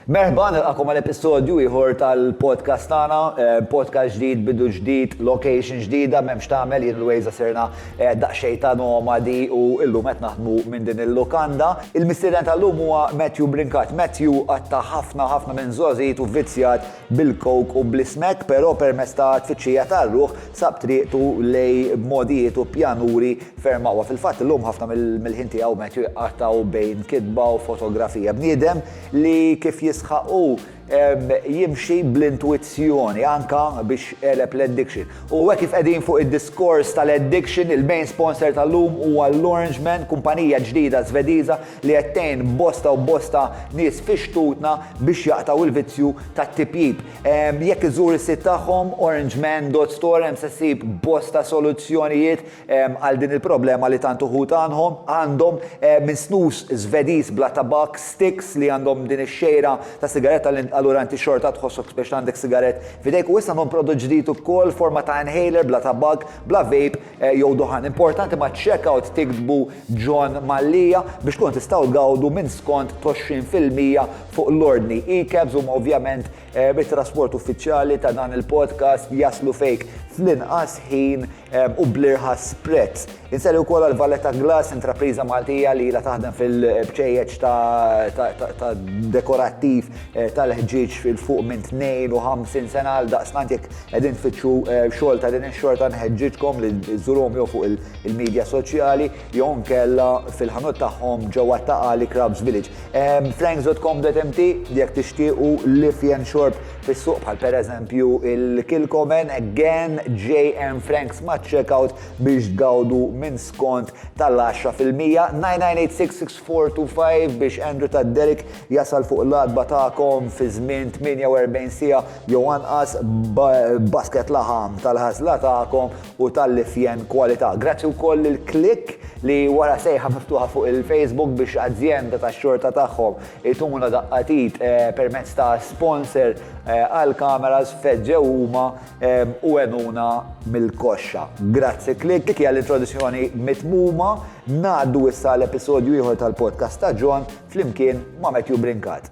Merħba, nilqagħkom għal episodju ieħor tal-podcast tagħna, podcast ġdid, bidu ġdid, location ġdida, m'hemmx tagħmel, jien Luisa sirna daqsxejn ta' nomadi u llum qed naħdmu minn din il-lukanda. Il-mistieden tal-lum huwa Matthew Brincat. Matthew qatta' ħafna ħafna minn żgħożitu vvizzjat bil-coke u bl-ismekk, però permezz ta' tfittxija tar-ruħ sab triqtu lejn modijiet u pjanuri ferm aqwa. Fil-fatt illum ħafna mill-ħin tiegħu Matthew jqattgħu bejn kitba u fotografija. Bniedem li kif jisħaq hu, jimxi bl-intuizzjoni anke biex għeleb l-addiction. U hekk kif qegħdin fuq id-diskors tal-addiction, il-main sponsor tal-lum huwa l-Orangemen, kumpanija ġdida Żvediża li qed tgħin bosta u bosta nies fi xtutna biex jaqtgħu l-vizzju tat-tipjip. Jekk iżżur is-sit tagħhom, orangemen dot store, hemm se ssib bosta soluzzjonijiet għal din il-problema li tant uħud għandhom, għandhom, minn snus Żvediż bla tabakk, sticks, li għandhom din ix-xejra ta' sigaretta li allura inti xorta tħossok speċi li għandek sigarett f'idejk, u issa għandhom prodott ġdid ukoll forma ta' inhaler bla tabakk, bla vape jew duħan. Importanti maċ-checkout tiktbu John Mallia biex tkunu tistgħu tgawdu minn skont t'għoxrin fil-mija fuq l-ordni. E-cabs huma ovvjament it-trasport uffiċjali ta' dan il-podcast jaslu fejk fl-inqas ħin u bl-irħas prezz. Insellem ukoll għal Valletta Glass, intrapriża Maltija li ilha taħdem fil-bċejjeċ ta' dekorattiv tal-ħġieġ 'l fuq minn 52 sena. Għaldaqstant jekk qegħdin tfittxu xogħol ta' din ix-xorta nħeġġiġkom li żżuruhom jew fuq il-midja soċjali jew inkella fil-ħanut tagħhom ġewwa t-Ta' Qali Crabs Village. Franks dot com dot mt jekk tixtiequ l-ifjen xorb fis-suq bħal pereżempju il-Kilchoman Again JM Franks ma' checkout biex tgawdu minn skont tal-għaxra fil-mija, 9986645 biex Andrew ta' Derek jasal fuq l-għatba tagħkom fi żmien 48 siegħa jew anqas b'basket laħam tal-għażla tagħkom u tal-lifjen kwalità. Grazzi wkoll lil Click li wara sejħa miftuħa fuq il-Facebook biex azjenda tax-xorta tagħhom Ituna daqqa t'id permezz ta' sponsor għal kameras, feġġew huma u għenuna mill-koxxa. Grazzi Click għal introduzzjoni mitmuma, ngħaddu issa għal episodju ieħor tal-podcast ta' John flimkien ma' Matthew Brincat.